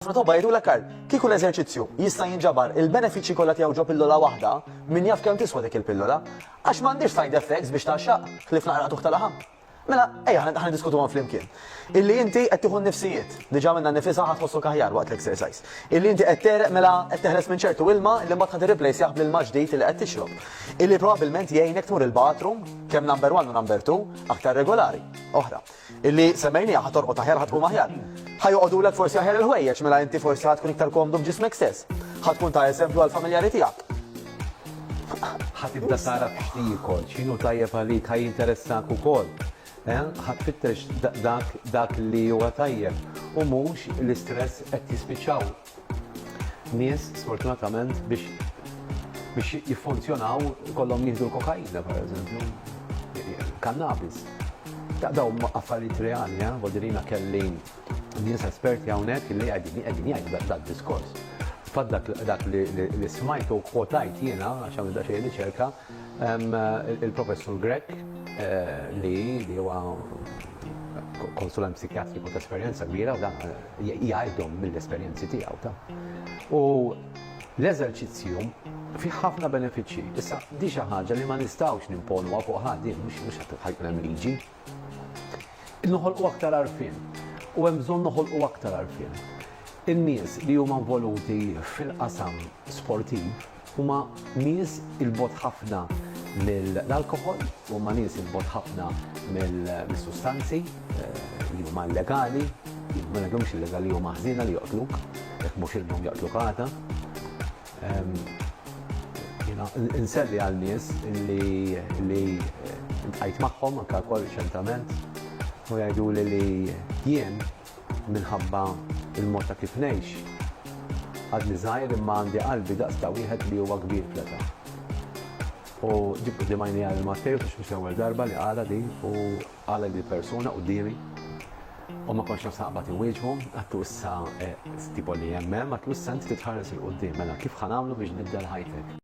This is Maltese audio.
Ħafna tobba jgħidulek għal kieku l-eżerċizzju jista' jinġabar il-benefiċċji kollha tiegħu ġo pillola waħda, min jaf kemm tiswa dik il-pillola? Għax m'għandhiex side effects biex tgħaxxaq, ħlief naqra qtugħ ta' laħam. Mela, ejja ħa niddiskutuhom flimkien. Illi inti qed tieħu nnifsijiet, diġà minnha nnifisha ħadd tħossok aħjar waqt l-exercise. Illi inti qed tereq mela qed teħles minn ċertu ilma li mbagħad ħad irreplaceah bl-ilma ġdid li qed tixrob. Illi probabbilment jgħinek tmur il-bathroom kemm number 1 u number 2 aktar regolari. Oħra. Illi semmejnieha, ħa torqod aħjar, ħa tqum aħjar. Ħa joqogħdulek forsi aħjar il-ħwejjeġ, mela inti forsi ħa tkun iktar komdu b'ġismek stess. Ħa tkun ta' eżempju għall-familjari tiegħek. Ħa tibda tagħraf x'tiekol, x'inhu tajjeb għalik, ħa jinteressahk ukoll. Ħa tfittex dak li huwa tajjeb u mhux l-istress qed jispiċċaw. nies sfortunatament biex biex jiffunzjonaw kollhom jieħdu l-kokaina pereżempju, kannabis. Ta' daw affarijiet reali, eh? Vodirina kelli nies esperti hawnhekk li qegħdin qegħdin jgħidu dak diskors. Fad dak li smajtu kwotajt jiena għax għamil daqsxejn riċerka il-professur Grek eh, li huwa konsulent psikjatriku ta' esperjenza kbira u dan jgħidhom mill-esperjenzi tiegħu ta'. U l-eżerċizzju fih ħafna benefiċċji. Issa di xi ħaġa li ma nistgħux nimponuha fuq ħadd mhux mhux qed ħajkun hemm liġi. Noħolqu aktar għarfien u hemm bżonn noħolqu aktar għarfien. In-nies li huma involuti fil-qasam sportiv Huma nies 'il bogħod ħafna mill-alkoħol, huma nies 'il bogħod ħafna mis-sustanzi li huma illegali, ma ngħidhomx illegali, huma ħżiena li joqtluk, jekk mhux illum jaqtluk għada. Jiena nselli għal nies li ltqajt magħhom anke wkoll riċentament u jgħiduli li jien, Minħabba l-mod ta' kif ngħix, għadni żgħir imma għandi qalbi daqs ta' wieħed li huwa kbir fl-età. U ġibt quddiem għajnejja lil Mattej u mhux l-ewwel darba li qalha din u qalha lil persuna quddiemi. U ma kontx naf naqbad inwieġbu, għadtu issa, tipo li hemm hemm, għadtlu issa inti titħares 'il quddiem, mela kif ħa nagħmlu biex tbiddel ħajtek?